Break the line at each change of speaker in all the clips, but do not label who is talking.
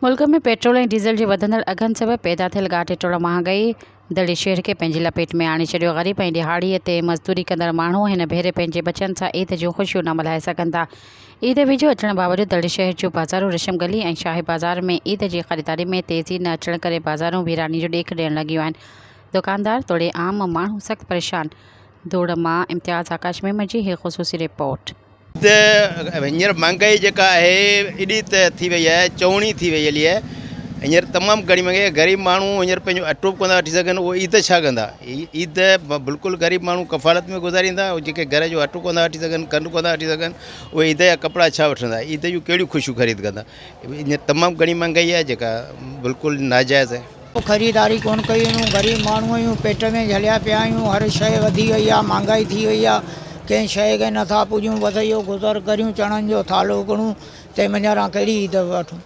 ملڪ ۾ petrol ۽ diesel جي وڌندڙ اگهن سبب پيدا ٿيل ڳاٽي ٽوڙ مهانگائي دڙي شهر کي پنهنجي لپيٽ ۾ آڻي ڇڏيو، غريب ۽ ڏهاڙي تي مزدوري ڪندڙ ماڻهو هن ڀيري پنهنجي ٻچن سان عيد جون خوشيون نه ملهائي سگهن ٿا، عيد ويجهو اچڻ باوجود دڙي شهر جون بازارون رشم گلي ۽ شاهي بازار ۾ عيد جي خريداري ۾ تيزي نه اچڻ ڪري بازارون ويراني جو ڏيک ڏيڻ لڳيون آهن، دڪاندار توڙي عام ماڻهو سخت پريشان. ڌوڙ مان امتياز آڪاش ميمڻ جي هي خصوصي رپورٽ. ته
هينئر مهانگائي جيڪا آهي ايڏي ته ٿي وئي آهي چوڻي ٿي وئي علي هينئر تمام گهڻي مهانگائي آهي غريب ماڻهو هينئر پنهنجو اٽو به ڪونه ٿا وٺي سگهن اهي عيد ڇا ڪندا عيد بلڪل غريب ماڻهو ڪفالت ۾ گذاريندا جيڪي گهر جو اٽو ڪونه ٿا وٺي سگهن کنڊ ڪونه ٿا وٺي سگهن اهي عيد جا ڪپڙا ڇا وٺندا عيد جون ڪهڙيون خوشيون خريد ڪندا هينئر تمام گهڻي مهانگائي آهي جيڪا بلڪل ناجائز آهي خريداري ڪونه ڪئي
آهيون غريب ماڻهو آهيون پيٽ ۾ جهليا پيا آهيون هر شيء وڌي وئي آهي مهانگائي ٿي وئي آهي ڪنهن شيء کي نٿا پوڄيون بس اهو گذر ڪريون چڻن جو ٿالهو ڪڙون تنهن منجهان ڪهڙي عيد وٺون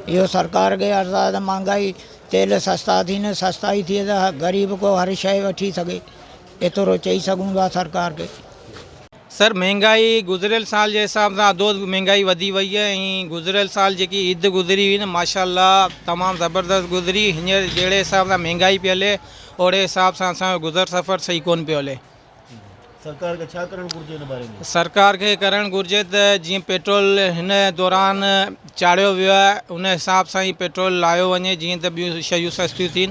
اهو سرڪار کي عرض آهي ته مهانگائي تيل سستا ٿي نه سستائي ٿئي ته غريب ڪو هر شيء وٺي سگهي ايترو چئي سگهون ٿا سرڪار کي سر
مھنگائي گذريل سال جي حساب سان اڌو اڌ مھنگائي وڌي وئي آھي ۽ گذريل سال جيڪي عيد گذري ھئي نه ماشاء الله تمام زبردست گذري ھينئر جھڙي حساب سان مھنگائي پئي ھلي اوھڙي حساب سان اسان جو گذر سفر صحيح ڪون پيو ھلي.
سرڪار کي ڇا ڪرڻ گھرجي
ان باري ۾؟ سرڪار کي ڪرڻ گھرجي ته جيئن پيٽرول ھن دوران چاڙھيو ويو آھي ان حساب سان ئي پيٽرول لايو وڃي جيئن ته ٻيون شيون سستيون ٿين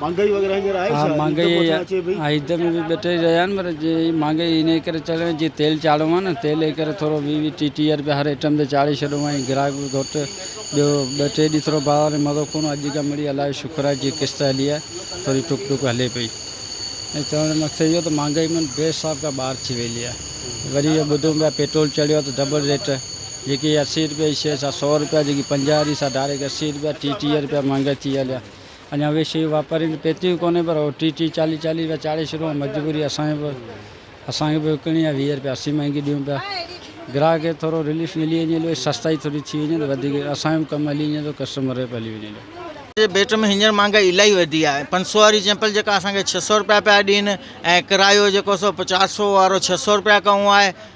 مھانگائي وغيره ھينئر آھي ڇا؟ عيد پوء ڇا
اچي پئي؟ ھا عيد ۾ به ٻٽيھه رھيا آھن پر جيئن مھانگائي ان ڪري چڙھي وئي جيئن تيل چاڙھيو آھي نه تيل جي ڪري ٿورو ويھه ويھه ٽيھه ٽيھه رپيا ھر ائٽم تي چاڙھي ڇڏيو ۽ گراھڪ به گھٽ ٻيو ٻه ٽي ڏينھن ٿورو بازار ۾ مزو ڪونه ھو اڄ کان مڙيئي الله جو شڪر آھي جيئن قسط ھلي آھي ٿوري ٽڪ ٽڪ ھلي پئي ۽ چوڻ جو مقصد اھو ته مھانگائي مان بي حساب کان ٻاھر ٿي ويلي آھي وري اھو ٻڌون پيا پيٽرول چڙھيو آھي ته ڊبل ريٽ جيڪي اسي رپيا جي شيء سا سؤ رپيا جيڪي پنجاهه جي سا ڊائريڪٽ اسي رپيا ٽيهه ٽيهه رپيا مهانگائي ٿي هليا اڃا اهي شيون واپارين کي پهتيون ڪونهين پر اهو ٽيهه ٽيهه چاليهه چاليهه رپيا چاڙهي ڇڏيو ۽ مجبوري اسان کي به اسان کي به وڪڻڻي آهي ويهه رپيا اسي مهانگي ڏيون پيا گراهڪ کي ٿورو رليف ملي وڃي هليو سستائي ٿوري ٿي وڃي ته وڌيڪ اسان جو به ڪم هلي وڃي ٿو ڪسٽمر جو به هلي وڃي ٿو. جي ڀيٽ ۾ هينئر مهانگائي
الاهي وڌي آهي پنج سؤ واري چيمپل جيڪا اسان کي ڇهه سؤ رپيا پيا ڏين ۽ ڪرايو جيڪو سو چار سؤ وارو ڇهه سؤ رپيا ڪئون آهي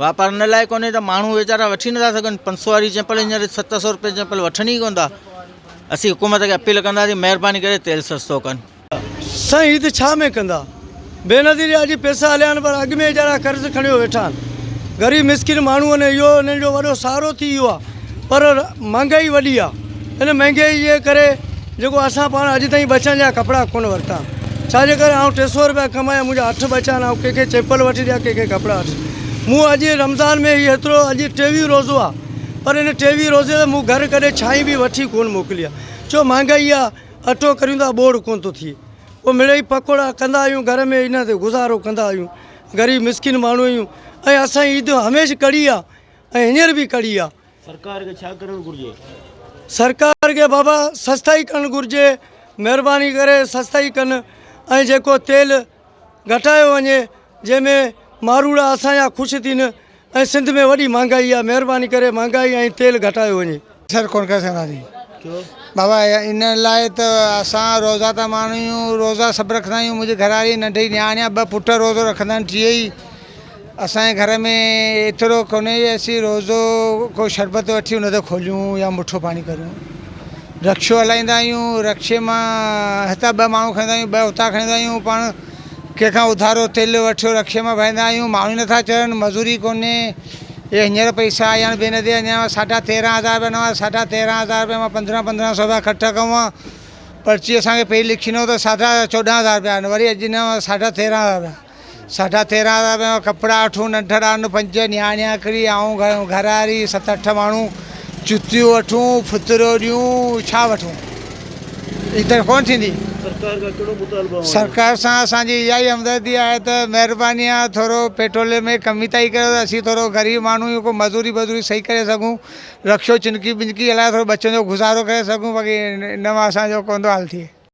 واپار ان لاء ڪونهي ته ماڻهو ويچارا وٺي نٿا سگهن پنج سؤ واري چمپل هينئر ست سؤ روپيه چمپل وٺن ئي ڪونه ٿا اسين حڪومت کي اپيل ڪنداسين مهرباني ڪري تيل سستو ڪن. سائين هي ته ڇا
۾ ڪندا بينظير يا جي پيسا هليا آهن پر اڳ ۾ ايجارا قرض کڻيو ويٺا آهن غريب مسڪين ماڻهون اهو انهن جو وڏو سهارو ٿي ويو آهي. پر مھانگائي وڏي آ ان مھانگائي جي ڪري جيڪو اسان پاڻ اڄ تائين ٻچن جا ڪپڙا ڪون ورتا ڇا جي ڪري آئون ٽي سو روپيا ڪمايا منھنجا اٺ ٻچا آھن آئون ڪنھن کي چيپل وٺي ڏيا ڪنھن کي ڪپڙا وٺي مون اڄ رمضان ۾ ھي ھيترو اڄ ٽيويھون روزو آ پر ان ٽيويھون روزي تي مون گھر ڪڏھن ڇانھي به وٺي ڪون موڪلي آ ڇو مھانگائي آ اٽو ڪريون ٿا ٻوڙ ڪون ٿو ٿئي پوء مڙيئي پڪوڙا ڪندا آھيون گھر ۾ ان تي گذارو ڪندا آھيون غريب مسڪين ماڻھو آھيون ۽ اسان عيد ھميشھ ڪڙي آ ۽ هينئر به ڪڙي آ. سرڪار کي ڇا ڪرڻ
گهرجي؟ سرڪار
کي بابا سستائي ڪرڻ گهرجي مهرباني ڪري سستائي ڪن ۽ جيڪو تيل گهٽايو وڃي جنهن ۾ ماروئڙا اسان جا خوش ٿين ۽ سنڌ ۾ وڏي مهانگائي آ مهرباني ڪري مهانگائي ۽ تيل گهٽايو وڃي. اثر ڪونه ڪري
سگهندا آهيون. ڇو؟ بابا ان لاء ته اسان روزه دار ماڻهو آهيون، روزا سڀ رکندا آهيون، منهنجي گهراڙي ننڍي نياڻي آهي، ٻه پٽ روزو رکندا آهن، ٽيئي ئي اسان جي گهر ۾ ايترو ڪونهي جو اسين روزو ڪو شربت وٺي ان تي کوليون يا مٺو پاڻي ڪريون، رڪشو هلائيندا آهيون، رڪشي مان هتان ٻه ماڻهو کڻيندا آهيون، ٻه هتان کڻيندا آهيون، پاڻ ڪنهن کان اڌارو تيل وٺيو رڪشي مان ڀرائيندا آهيون، ماڻهو ئي نٿا چڙهن، مزوري ڪونهي. اهي هينئر پئسا آيا آهن بين تي اڃا ساڍا تيرهن هزار رپيا نوان ساڍا تيرهن هزار رپيا مان پندرهن پندرهن سو رپيا خرچ ڪئون آهن پرچي اسان کي پهرين لکي ڏنو ته ساڍا چوڏهن هزار رپيا آهن وري اڄ نوان ساڍا تيرهن هزار رپيا ساڍا تيرهن هزار رپيا مان ڪپڙا وٺون ننڍڙا آهن پنج نياڻيان هڪڙي آئون گهر واري ست اٺ ماڻهو چتيون وٺون ڦتريون ڏيون ڇا وٺون ايتر ڪونه ٿيندي. سرڪار کان ڪهڙو مطالبو اوهان جو؟
سرڪار سان اسان جي
اها ئي همدردي آهي ته مهرباني آهي ٿورو پيٽرول ۾ ڪمي تائي ڪريو ته اسين ٿورو غريب ماڻهو آهيون ڪو مزوري بزوري صحيح ڪري سگهون رڪشو چنڪي بنڪي هلائي ٿورو ٻه ڇنو گذارو ڪري سگهون باقي ان مان اسان جو ڪونه ٿو حال ٿئي.